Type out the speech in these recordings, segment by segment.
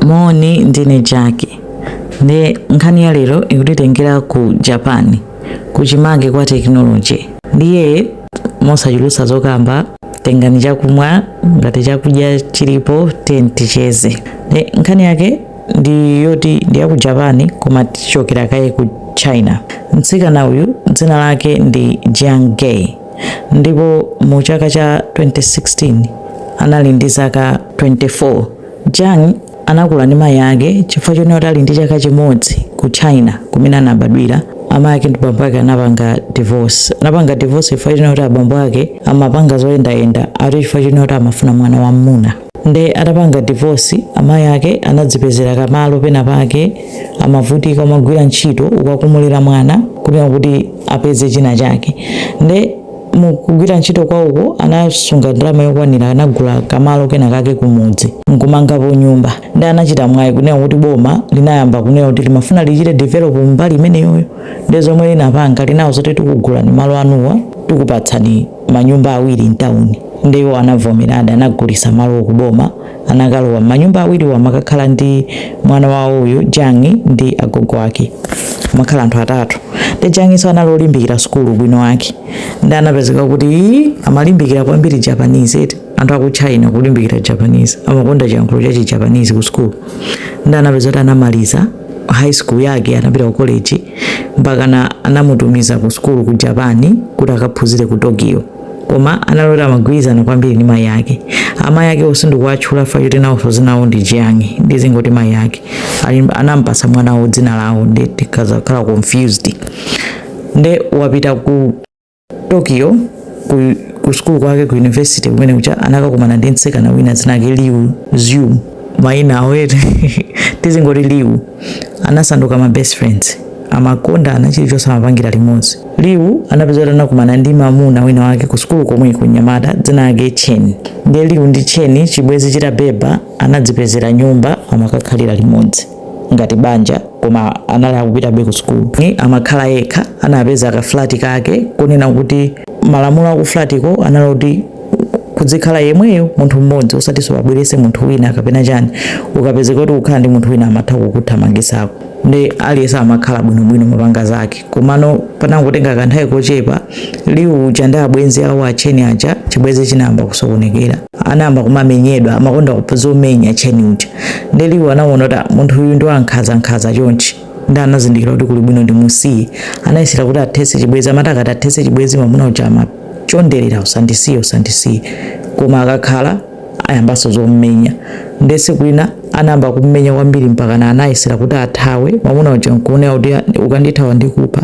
moni ndine Jackie nde nkhani ya lero ikutitengera ku japan kuchimake kwa technology ndiye mosachulutsa zokamba tengani chakumwa ngati chakudya chilipo tiyeni ticheze nde nkhani yake ndi yoti ndi ya ku japan koma tichokera kaye ku china mtsikana uyu dzina lake ndi jiang gay ndipo mu chaka cha 2016 anali ndi zaka 24 Jiang anakula ndi mayi ake chifukwa chonena kuti ali ndi chaka chimodzi ku China kumene anabadwira, amayi ake ndi bambo ake anapanga divorce. Anapanga divorce chifukwa chonena kuti abambo ake amapanga zoyendayenda ati chifukwa chonena kuti amafuna mwana wam'muna. Nde atapanga divorce amayi ake anadzipezera ka malo pena pake amavutika amagwira ntchito ukakumulira mwana kunena kuti apeze china chake. Nde. mu kugwira ntchito kwawoko anasunga ndalama yokwanira anagula kamalo kena kake kumudzi nkumangapo nyumba nde anachita mwayi kunena kuti boma linayamba kunena kuti limafuna lichite develop mbali imeneyoyo nde zomwe linapanga linawauza zoti tikugulani malo anuwa tikupatsani manyumba awiri mtawuni nde iwo anavomeradi anagulisa malo kuboma anakalowa m'manyumba awiriwo amakakhala ndi mwana wawo uyu Jiang ndi agogo ake amakhala anthu atatu nde Jiang nso anali olimbikira sukulu bwino lake nde anapezeka kuti amalimbikira kwambiri Japanese eti anthu aku China kulimbikira Japanese amakonda chiyankhulo cha Japanese ku sukulu nde anapezeka kuti anamaliza high school yake anapita ku college mpaka anamutumiza ku sukulu ku Japan kuti akaphunzire ku Tokyo koma anali oti amagwirizana kwambiri ndi mayi ake amayi ake wo sindikuwatchula chifukwa choti nawonso dzina lawo ndi jiang nde ndizingoti mayi ake anampasa mwana wawo dzina lawo nde tikazakhala confused nde wapita ku tokyo ku, ku sukulu kwake ku university kumene kuja anakakumana ndi mtsikana wina dzina lake liu zyu maina awa eti tizingoti liu anasanduka ma best friends amakondana chilichonse amapangira limodzi liu anapezeka kuti anakumana ndi mamuna wina wake ku sukulu komweko mnyamata dzina lake chen ndiye liu ndi chen chibwezi chitabeba anadzipezera nyumba amakakhalira limodzi ngati banja koma anali akupitabe ku sukulu amakhala yekha anapeza ka flat kake konena kuti malamulo aku flat ko anali kuti kudzikhala iweyo munthu mmodzi osatiso ubwerese munthu wina kapena chani ukapezeka kuti ukukhala ndi munthu wina amatha kukuthamangisako nde aliyense amakhala bwinobwino amapanga zake komano panangotenga kanthawi kochepa liu uja ndi abwenzi awo a chen aja chibwezi chinayamba kusokonekera anayamba kumamenyedwa amakonda kupanga zomenya Chen uja nde Liu anaona kuti "Ah, munthu uyu ndi wankhaza nkhaza chonchi ndi anazindikira kuti kuli bwino ndimusiye anayesera kuti athese chibwezi amati akati athese chibwezi mwamuna uja amachonderera usandisiye usandisiye koma akakhala ayambanso zommenya ndi tsiku lina anayamba kummenya kwambiri mpaka na anayesera kuti athawe mwamuna uja nkuonera kuti "Ah, ukandithawa ndikupha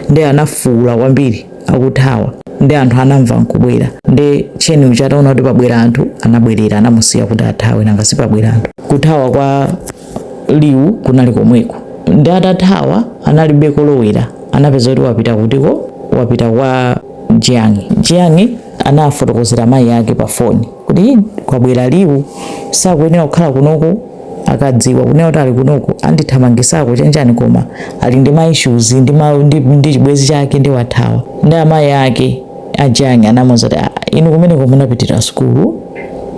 ndi anafuwula kwambiri akuthawa ndi anthu anamva nkubwera ndi Chen uja ataona kuti pabwera anthu anabwerera anamusiya kuti athawe nanga sipabwera anthu kuthawa kwa Liu kunali komweko ndi atathawa analibe kolowera anapeza kuti wapita kutiko wapita kwa Jiang Jiang anafotokozera mayi ake pa foni kuti kwabwera Liu sakuyenera kukhala kunoko akadziwa kunena kuti ali kunoko andithamangisako chanichani koma ali ndi ma issues ndi ma ndi, ndi chibwezi chake ndi wathawa ndi amayi ake a Jiang anamuuza kuti "Ah, inu kumeneko munapitira sukulu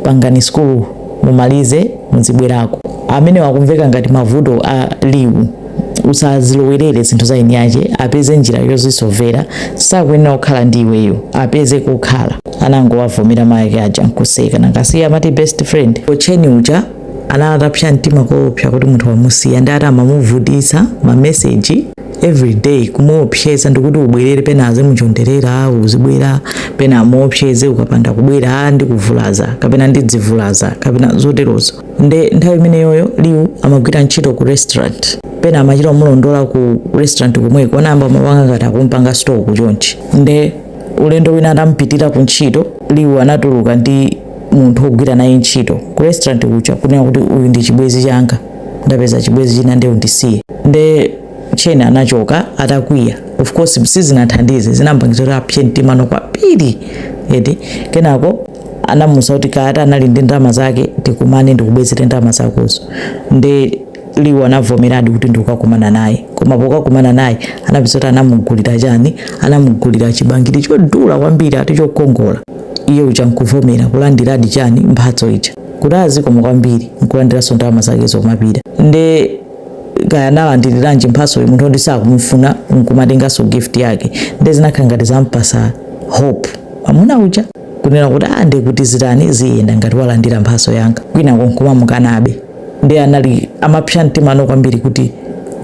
pangani sukulu mumalize muzibwerako amenewa akumveka ngati mavuto a Liu usazilowerere zinthu za eni ache apeze njira yozisovera sakuyenera kukhala ndi iweyo apeze kokhala anangowavomera mayake aja nkuseka nanga si iye amati best friend Chen uja anali atapsa mtima koopsa kuti munthu wamusiya ndi ati amamuvutitsa mameseji everyday kumuopseza ndikuti ubwerere pena azimuchonderera uzibwera pena amuopseze ukapanda kubwera ndikuvulaza kapena ndidzivulaza kapena zoterozo nde nthawi imeneyoyo Liu amagwira ntchito ku restaurant pena amachita kumulondola ku restaurant komweko anayamba kumapanga ngati akumpanga stalk chonchi nde ulendo wina atampitira ku ntchito Liu anatuluka ndi munthu wogwira naye ntchito ku restaurant kuja kunena kuti uyu ndi chibwezi changa ndapeza chibwezi china nde undisiye nde Chen anachoka atakwiya of course sizinathandize zinampangiza kuti apse mtimano kwambiri eti kenako anamuuza kuti kaya ati anali ndi ndalama zake tikumane ndikubwezere ndalama zakozo nde Liu anavomeradi kuti ndikukakumana naye koma pokakumana naye anapeza kuti anamugulira chani anamugulira chibangiri chodula kwambiri ati chokongola iye uja nkuvomera kulandiradi chani mphatso ija kuti ah zikomo kwambiri nkulandiranso ndalama zakezo nkumapita nde kaya analandiriranji mphatso uyu munthu oti sakumufuna nkumatenganso gift yake nde zinakhala ngati zampasa hope amuna uja kunena kuti ah ndiye kuti zitani ziyenda ngati walandira mphatso yanga kwinako nkumamukanabe ndiye anali amapsa mtimano kwambiri kuti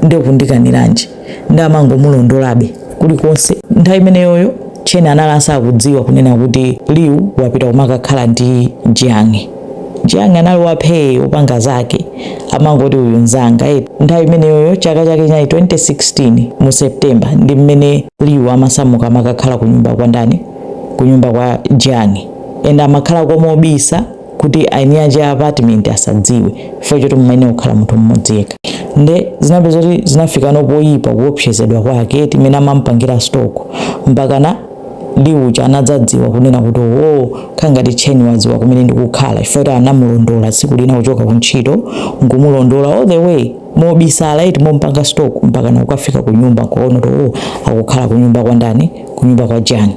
ndiye kundikaniranji ndi amangomulondolabe kulikonse nthawi imeneyoyo Chen anali asakudziwa kunena kuti Liu wapita kumakakhala ndi Jiang Jiang anali waphee opanga zake amangoti uyu nzanga eti nthawi imeneyoyo chaka chake chinali 2016 mu september ndi mmene Liu amasamuka amakakhala ku nyumba kwa ndani kunyumba kwa Jiang and amakhalako mobisa kuti aeni aja apartment asadziwe chifukwa choti mumayenera kukhala munthu mmodzi yekha nde zinapeza kuti zinafikano poyipa kuopsezedwa kwake mmene amampangira stalk mpakana Liu uja anadzadziwa kunena kuti oo khala ngati Chen wadziwa kumene ndikukhala chifukwa kuti anamulondola tsiku lina kuchoka kuntchito nkumulondola all the way mobisala eti mompanga stalk mpakana kukafika kunyumba kuona kuti oo akukhala kunyumba kwa ndani kunyumba kwa Jiang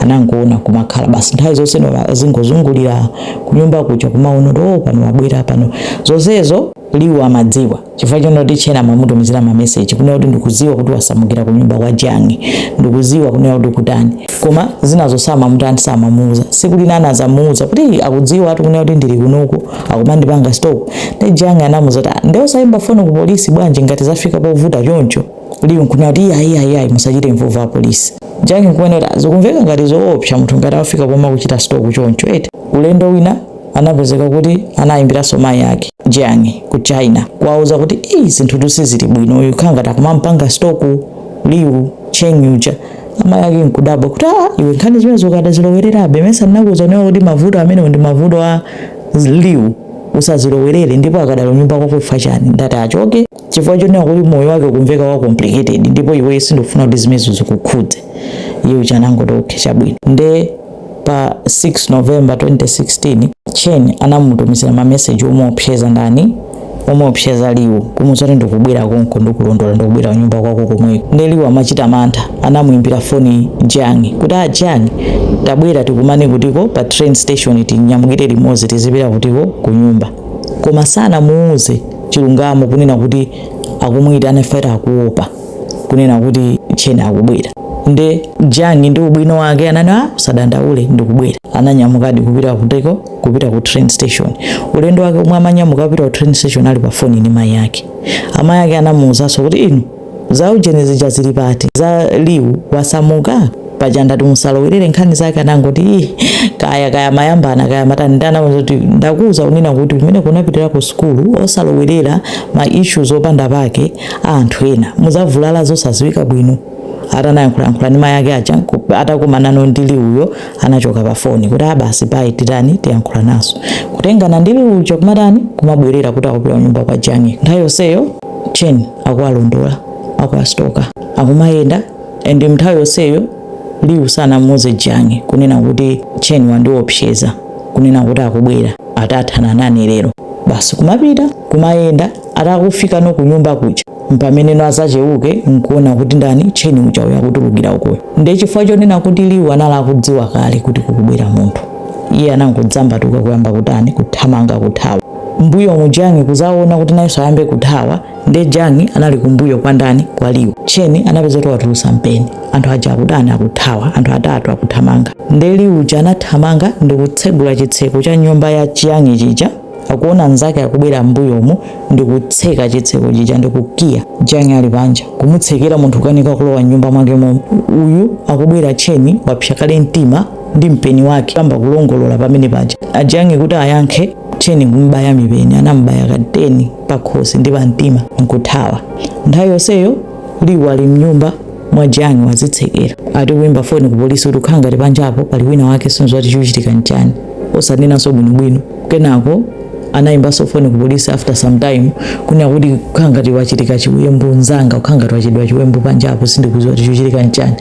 anangoona kumakhala basi nthawi zonse nola azingozungulira kunyumba kuja kumaona kuti oh pano wabwera pano zonsezo Liu amadziwa chifukwa chonena kuti Chen amamutumizira mameseji kunena kuti ndikudziwa kuti wasamukira kunyumba kwa Jiang ndikudziwa kunena kuti kutani koma zinazo samamutani samamuuza siku lina anazamuuza kuti akudziwa ati kunena kuti ndili kunoko akumandipanga stalk nde Jiang anamuuza kuti "Ah, nde usayimba foni ku polisi bwanji ngati zafika povuta choncho Liu nkunena kuti ayi ayi ayi musachite involve apolisi Jiang nkuona kuti zikumveka ngati zoopsa munthu ngati afika pomakuchita stalk choncho eti ulendo wina anapezeka kuti anayimbiranso mayi ake Jiang ku China kuwauza kuti eyi zinthutu sizili bwino uyu khala ngati akumampanga stalk Liu Chen uja amayi ake nkudabwa kuti a iwe nkhani zimenezo ukadazilowererabe mesa ndinakuuza nawo kuti mavuto amenewo ndi mavuto a Liu usazilowerere ndipo akadali kunyumba kwako chifukwa chani ndati achoke chifukwa chonena kuti moyo wake ukumveka wa complicated ndipo iweyo sindikufuna kuti zimenezo zikukhudze iye uja anangoti okay chabwino nde pa 6 november 2016 Chen anamutumizira mameseji omuopseza ndani omuopseza Liu kumuuza kuti ndikubwera konko ndikulondola ndikubwera kunyumba kwako komweko nde Liu amachita mantha anamuimbira foni Jiang kuti a Jiang tabwera tikumane kutiko pa train station tinyamukire limodzi tizipita kutiko kunyumba koma sanamuuze chilungamo kunena kuti akumuyitana chifukwa akuopa kunena kuti Chen akubwera nde Jiang ndi ubwino wake anati a usadandaule ndikubwera ananyamukadi kupita kutiko kupita ku train station ulendo wake omwe amanyamuka kupita ku train station ali pa foni ni mayi ake amayi ake anamuwuzanso kuti inu za ujeni zija zili pati za Liu wasamuka paja ndati musalowerere nkhani zake anangoti "Ih, kaya kaya mayambana kaya matani ndanena kuti ndakuuza kunena kuti kumeneko unapitira ku sukulu osalowerera ma issues opanda pake a anthu ena muzavulala zosaziwika bwino atanayankhulayankhula ndi mayi ake aja ku- atakumana no ndi Liuyo anachoka pa foni kuti a basi bye titani tiyankhulananso kutengana ndi Liu uja kumatani kumabwerera kuti akupita kunyumba kwa Jiang nthawi yonseyo Chen akuwalondola akuwastoka akumayenda and mnthawi yonseyo liwu sanamuuze jiang kunena kuti chen wandiwopseza kunena kuti akubwera atathana nane lero basi kumapita kumayenda atakufika no kunyumba kuja mpamene no amazacheuka nkuona kuti ndani chen uja uyo akutulukira ukoyo nde chifukwa chonena kuti liwu anali akudziwa kale kuti kukubwera munthu iye anangodzambatuka kuyamba kutani kuthamanga kuthawa mbuyomu jiang kuzaona kuti nayenso ayambe kuthawa nde jiang anali kumbuyo kwa ndani kwa liwu chen anapeza kuti watulusa mpeni anthu aja akutani akuthawa anthu atatu akuthamanga nde liwu uja anathamanga ndi kutsegula chitseko cha nyumba ya jiang chija akuona nzake akubwera mbuyomu ndi kutseka chitseko chija ndi kukiya jiang ali panja kumutsekera munthu kukanika kulowa mnyumba mwake momo uyu akubwera chen wapsa kale mtima ndi mpeni wake kuyamba kulongolola pamene paja a jiang kuti ayankhe chen kumbaya mipeni anamubaya ka 10 pakhosi ndi pamtima nkuthawa nthawi yonseyo liwu ali mnyumba mwa jiang wazitsekera ati kuyimba foni ku polisi kuti ukhala ngati panjapo pali wina wake sindiziwa kuti chochitika nchani osanenanso bwinobwino kenako anayimbanso foni ku polisi after some time kunena kuti kukhala ngati wachitika chiwembu nzanga kukhala ngati wachitidwa chiwembu panjapo sindikudziwa kuti chochitika nchani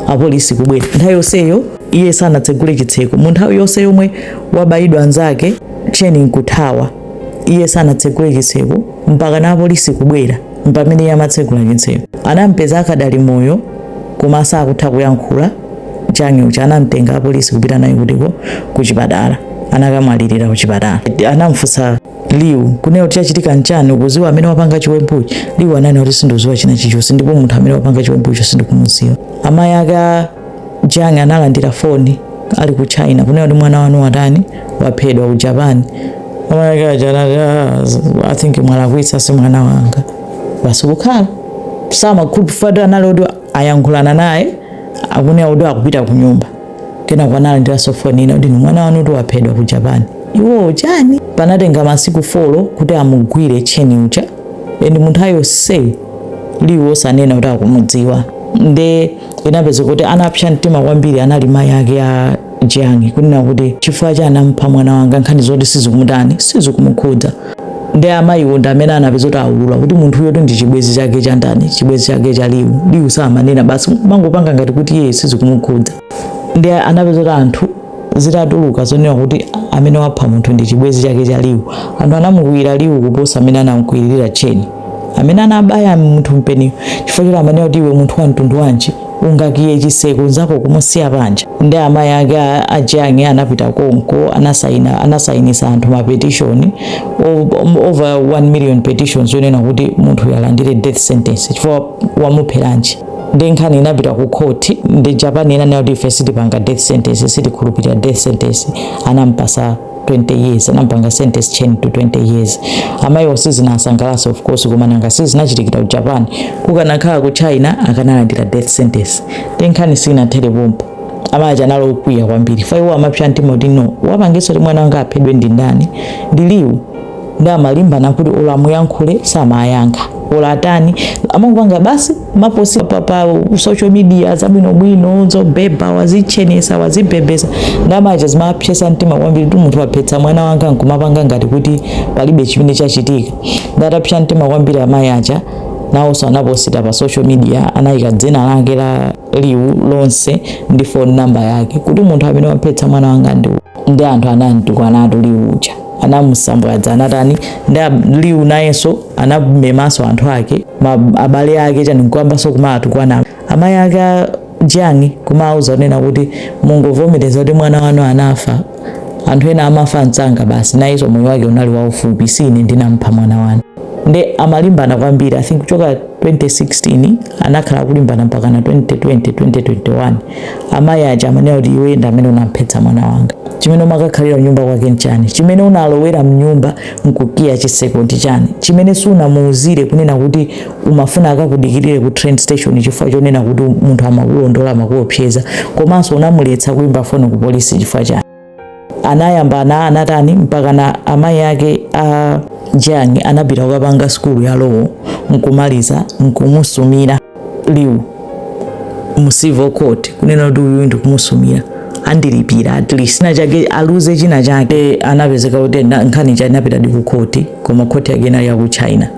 apolisi kubwera nthawi yonseyo iye sanatsegule chitseko mu nthawi yonse yomwe wabayidwa nzake chen nkuthawa iye sanatsegule chitseko mpaka na apolisi kubwera mpamene iye amatsegula chitseko anampeza akadali moyo koma sakutha kuyankhula jiang uja anamtenga apolisi kupita naye kutiko kuchipatala anakamwalirira kuchipatala anamfunsa liu kunena kuti chachitika nchani ukuziwa amene wapanga chiwembuchi liu ananena kuti sindikuziwa china chichonse ndipo munthu amene wapanga chiwembucho sindikumuziwa amayi ake Jiang analandira foni ali ku China kunena kuti mwana wanu watani waphedwa ku Japan. Amayake aja anati "Ah, z- I think mwalakwitsa si mwana wanga. Basi kukhala samakhulupirira kuti anali kuti ayankhulana naye akunena kuti akupita ku nyumba. Kenako analandiranso foni ina kuti mwana wanu kuti waphedwa ku Japan. Iwo chani? Panatenga masiku folo kuti amugwire Chen uja. And munthawi yonse Liu osanena kuti akumudziwa. Nde inapeza kuti anapsa mtima kwambiri anali mayi ake a Jiang kunena kuti chifukwa chani anampha mwana wanga nkhani zoti sizikumutani sizikumukhudza nde amayiwo ndi amene anapeza kuti aulula kuti munthu uyotu ndi chibwezi chake cha ndani chibwezi chake cha liwu liwu samanena basi amangopanga ngati kuti iye sizikumukhudza nde anapeza kuti anthu zitatuluka zonena kuti amene wapha munthu ndi chibwezi chake cha liwu anthu anamukwiyira liwu kuposa mmene anamkwiyira chen amene anabaya munthu mpeniyo chifukwa choti amanena kuti iwe munthu wa mtundu wanji ungakiye chiseko nzako kumusiya panja ndi amayi ake a- a Jiang anapita konko anasaina anasainisa anthu ma petition o- over 1 million petitions yonena kuti munthuyo alandire death sentence chifukwa wamupheranji ndi nkhani inapita ku court ndi Japan inanena kuti ife sitipanga death sentence sitikhulupirira death sentence anampasa 20 years anampanga sentence Chen to 20 years amayiwo sizinawasangalatse of course koma nanga sizinachitikira ku japan kukanakhala ku china akanalandira death sentence ndi nkhani sinathere pompo amayi aja anali okwiya kwambiri chifukwa iwo amapsa mtima kuti no wapangitsa kuti mwana wanga aphedwe ndi ndani ndi Liu ndi amalimbana kuti olo amuyankhule samayankha olo atani amangopanga basi maposi pa, pa social media zabwinobwino zobhebha wazitchenesa wazibhebhesa ndi amayi aja zimapsesa mtima kwambiri kuti munthu waphetsa mwana wanga nkumapanga ngati kuti palibe chimene chachitika ndi atapsa mtima kwambiri amayi aja nawonso anaposita pa social media anayika dzina lake la Liu lonse ndi phone number yake kuti munthu amene waphetsa mwana wanga ndi anthu anamutukwanatu Liu uja anamusambwadza anatani nde Liu nayenso anamemanso anthu ake abale ake chani nkuyambanso kumaatukwana amayi ake a Jiang kumauza kunena kuti mungovomereza kuti mwana wanu anafa anthu ena amafa msanga basi nayenso moyo wake unali waufupi si ine ndinampha mwana wanu nde amalimbana kwambiri i think kuchoka 2016 anakhala akulimbana mpakana 2020 2021 amayi aja amanena kuti iwe ndi amene unamphetsa mwana wanga chimene umakakhalira kunyumba kwake nchani chimene unalowera mnyumba nkukiya chiseko ndi chani chimene sunamuuzire kunena kuti umafuna akakudikirire ku train station chifukwa chonena kuti munthu amakulondola amakuopseza komanso unamuletsa kuimba foni ku polisi chifukwa chani anayambana anatani mpakana amayi ake a Jiang anapita kukapanga sukulu ya law nkumaliza nkumusumira Liu mu civil court kunena kuti uyu ndikumusumira andilipire at least china chake aluze china chake eh, anapezeka kuti nkhani ija inapitadi ku court koma court yake inali ya ku China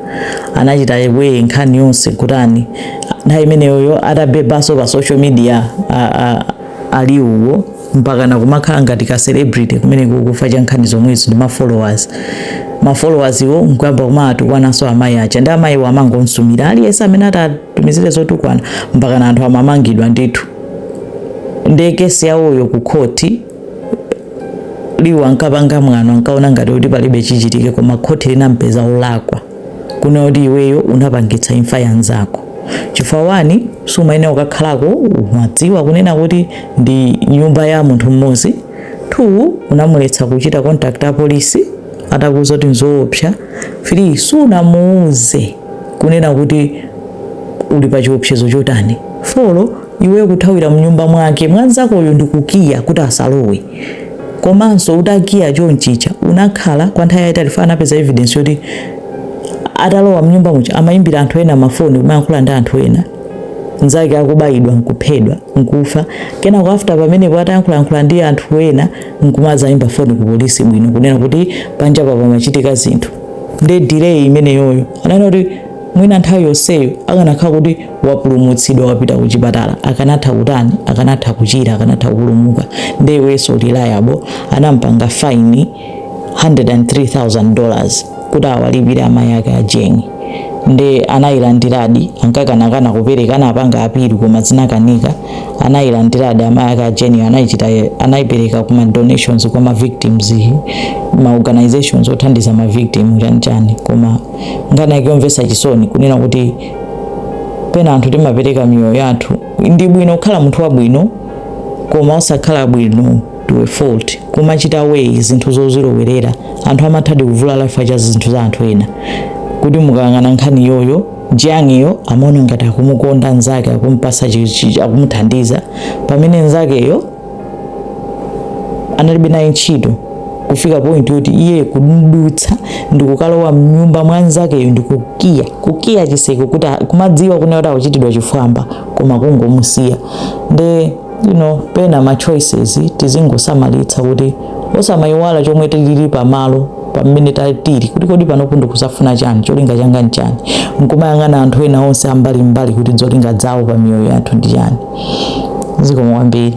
anachita weigh nkhani yonse kutani na imeneyoyo atabebaso pa social media a, a, a Liu wo mpakana kumakhala ngati ka celebrity kumeneko chifukwa cha nkhani zomwezo ndi ma followers ma followers wo nkuyamba kumawatukwananso amayi aja ndi amayiwo amangomsumira aliyense amene atawatumizire zotukwana mpakana anthu amamangidwa ndithu ndi kesi yawoyo ku khoti Liu ankapanga mwano ankaona ngati kuti palibe chichitike koma khoti linampeza olakwa kunena kuti iweyo unapangitsa imfa ya nzako chifukwa one sumayenera kukakhalako umadziwa kunena kuti ndi nyumba ya munthu mmodzi two unamuletsa kuchita contact a polisi atakuuza kuti nzoopsa three sunamuuze kunena kuti uli pa chiopsezo chotani four iweyo kuthawira mnyumba mwake mwanzakoyo ndikukiya kuti asalowe komanso utakiya chonchicha unakhala kwa nthawi yayitali chifukwa anapeza evidence yoti atalowa mnyumba muja amayimbira anthu ena mafoni kumayankhula ndi anthu ena nzake akubayidwa nkuphedwa nkufa kenako after pamenepo atayankhulayankhula ndi anthu ena nkumazayimba foni ku polisi bwino kunena kuti panjapa pamachitika zinthu ndi delay imeneyoyo ananena kuti mwina nthawi yonseyo akanakhala kuti wapulumutsidwa wapita ku chipatala akanatha kutani akanatha kuchira akanatha kupulumuka nde iwenso uli liable anampanga fine 103000 dollars kuti awalipire amayi ake a jiang nde anayilandiradi ankakanakana kupereka anapanga appeal koma zinakanika anayilandiradi amayi ake a jiang anayichita anayipereka ku ma donations kwa ma victims ma organizations othandiza ma victim chani chani koma nkhani yake yomvetsa chisoni kunena kuti pena anthu timapereka miyoyo yathu ndi bwino kukhala munthu wabwino koma osakhala bwino to a fault kumachita weigh zinthu zozilowerera anthu amathadi kuvulala chifukwa cha zinthu za anthu ena kuti mukayang'ana nkhani iyoyo jiang'iyo amaona ngati akumukonda nzake akumpasa chi- chi- akumuthandiza pamene nzakeyo analibe naye ntchito kufika point yoti iye kudutsa ndikukalowa mnyumba mwa nzakeyo ndikukiya kukiya chiseko kuti kumadziwa kunena kuti akuchitidwa chifwamba koma kungomusiya nde you know pena ma choices tizingosamalitsa kuti osamayiwala chomwe tilili pamalo pamene ta- tili kuti kodi panopo ndikuzafuna chani cholinga changa nchani nkumayang'ana anthu ena onse ambalimbali kuti zolinga zawo pa miyoyo yathu ndi chani zikomo kwambiri